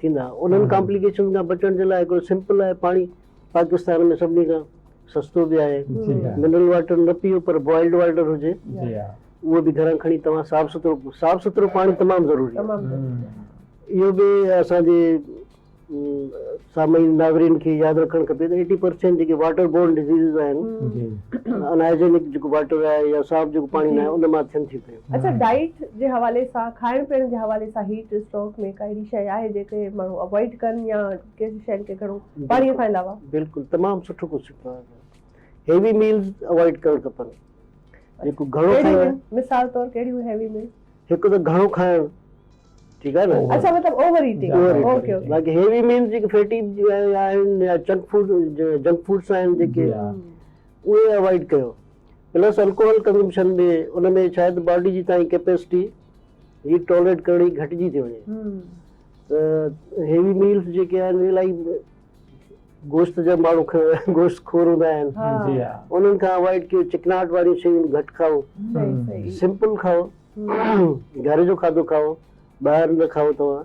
ٿيندا انهن ڪامپليڪيشنز کان بچڻ جي لاء هڪڙو سمپل آهي پاڻي پاڪستان ۾ سڀني کان سستو به آهي منرل واٽر نه پيئو پر بوائلڊ واٽر هجي اهو به گهران کڻي توهان صاف سٿرو صاف سٿرو پاڻي تمام ضروري آهي اهو به اسان جي سامعين ناظرين کي ياد رکڻ کپي ته ايٽي پرسينٽ جيڪي واٽر بورن ڊزيزز آهن ان هائجينڪ جيڪو واٽر آهي يا صاف جيڪو پاڻي نه آهي ان مان ٿين ٿيون پيون اچا ڊائيٽ جي حوالي سان کائڻ پيئڻ جي حوالي سان هيٽ اسٽروڪ ۾ ڪا اهڙي شيء آهي جيڪي ماڻهو اوائڊ ڪن يا ڪهڙي شين کي گهڻو پاڻي کان علاوه. بلڪل تمام سٺو ڪوشچن ٿيو آهي هيوي ميلز اوائڊ ڪرڻ کپن جيڪو گهڻو کائي ڪهڙيون آهن مثال طور ڪهڙيون هيوي ميلز. هڪ ته گهڻو کائڻ ٺيڪ آهي نه. اچا مطلب اوور ايٽنگ اوڪي اوڪي. باقي هيوي ميلز جيڪي فيٽي آهن يا چنڪ فوڊ جنڪ فوڊس آهن جيڪي اهي اوائڊ ڪيو پلس الڪوهل ڪنزمپشن به ان ۾ شايد باڊي جي تائين ڪيپيسٽي هيٽ ٽالريٽ ڪرڻ جي گهٽجي ٿي وڃي ته هيوي ميلز جيڪي آهن الائي گوشت جا ماڻهو گوشت خور هوندا آهن انهن کان اوائڊ ڪيو چڪناهٽ واريون شيون گهٽ کائو سمپل کائو گهر جو کاڌو کائو ٻاهر نه کائو توهان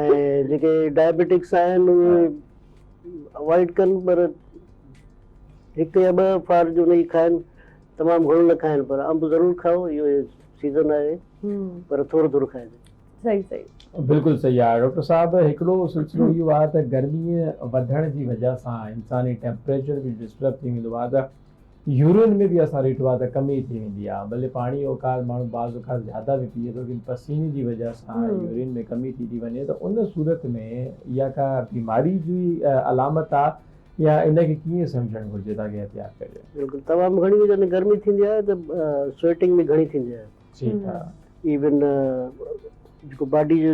۽ جيڪي ڊائبيٽڪس آهن اهي اوائڊ ڪن پر هڪ يا ٻه فار جو نئي کائن تمام گهڻو نه کائن پر انب ضرور کائو اهو سيزن آهي پر ٿورو ٿورو کائي صحيح صحيح بلڪل صحيح آهي ڊاڪٽر صاحب هڪڙو سلسلو اهو آهي ته گرمي وڌڻ جي وجه سان انساني ٽيمپريچر به ڊسٽرب ٿي ويندو آهي ته يورين ۾ به اسان ريٽو آ ته ڪم ئي ٿي ويندي آ ڀلي پاڻي اوقات ماڻهو بعض اوقات زياده به پيئي ٿو ڪن پسيني جي وجه سان يورين ۾ ڪمي ٿي ٿي وڃي ته ان صورت ۾ اها ڪا بيماري جي علامت آ يا ان کي ڪيئن سمجهڻ گهرجي تاڪه احتياط ڪجي. بلڪل تمام گهڻي هو جڏهن گرمي ٿيندي آهي ته سوئيٽنگ به گهڻي ٿيندي آهي ٺيڪ آ. ايون جيڪو باڊي جو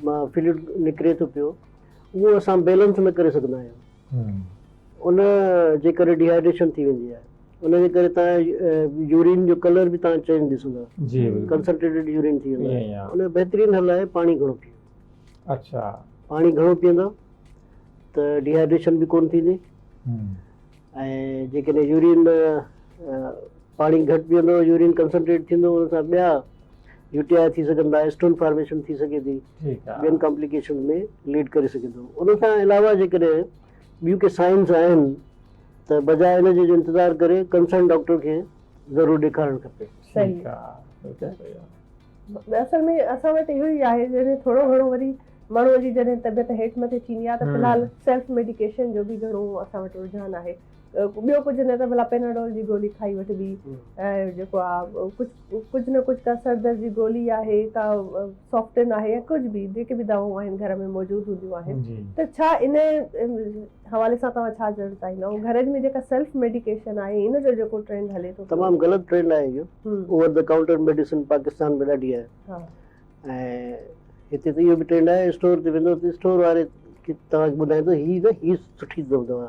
مان فلوئڊ نڪري ٿو پيو اهو اسان بيلنس نه ڪري سگهندا آهيون ان جي ڪري ڊيهائيڊريشن ٿي ويندي آهي ان جي ڪري توهان يورين جو ڪلر به توهان چينج ڏسندا ڪنسنٽريٽيڊ يورين ٿي ويندو آهي ان جو بهترين حل آهي پاڻي گهڻو پيو اڇا پاڻي گهڻو پيئندا ته ڊيهائيڊريشن به ڪون ٿيندي ۽ جيڪڏهن يورين پاڻي گهٽ پيئندو يورين ڪنسنٽريٽ ٿيندو ان سان ٻيا يو ٽي آء ٿي سگهن ٿا، اسٽون فارميشن ٿي سگهي ٿي، ٻين ڪامپليڪيشنز ۾ ليڊ ڪري سگهي ٿو. ان کان علاوه جيڪڏهن ٻيون ڪي سائنز آهن ته بجاء ان جي جو انتظار ڪري ڪنسرن ڊاڪٽر کي ضرور ڏيکارڻ کپي. صحيح. اصل ۾ اسان وٽ اهو ئي آهي جڏهن ٿورو گهڻو وري ماڻهوء جي جڏهن طبيعت هيٺ مٿي ٿيندي آهي ته في الحال سيلف ميڊيڪيشن جو به گهڻو اسان وٽ رجحان آهي. ٻيو ڪجهه نه ته ڀلا پيناڊول جي گولي کائي وٺبي ۽ جيڪو آ ڪجهه ڪجهه نه ڪجهه ڪا سر درد جي گولي آهي ڪا سوفٽن آهي يا ڪجهه به جيڪي به دواون آهن گهر ۾ موجود هونديون آهن ته ڇا ان حوالي سان توهان ڇا چوڻ چاهيندا ۽ گهرج ۾ جيڪا سيلف ميڊيڪيشن آهي ان جو جيڪو ٽرينڊ هلي ٿو تمام غلط ٽرينڊ آهي اهو over the counter medicine Pakistan ۾ ڏاڍي آهي ها ۽ هتي ته اهو به ٽرينڊ آهي اسٽور تي ويندو ته اسٽور واري توهان کي ٻڌائيندو هي نه هي سٺي دوا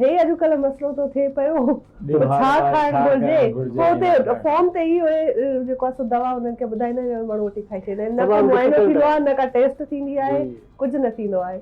هي اڄڪلهه مسئلو ٿو ٿئي پيو ته ڇا کائڻ گهرجي پوء اتي فارم تي ئي اهي جيڪو آهي سو دوا انهن کي ٻڌائيندا آهن ۽ ماڻهو وٺي کائي ڇڏيندا آهن نه ڪو معائنو ٿيندو آهي نه ڪا ٽيسٽ ٿيندي آهي ڪجهه نه ٿيندو آهي.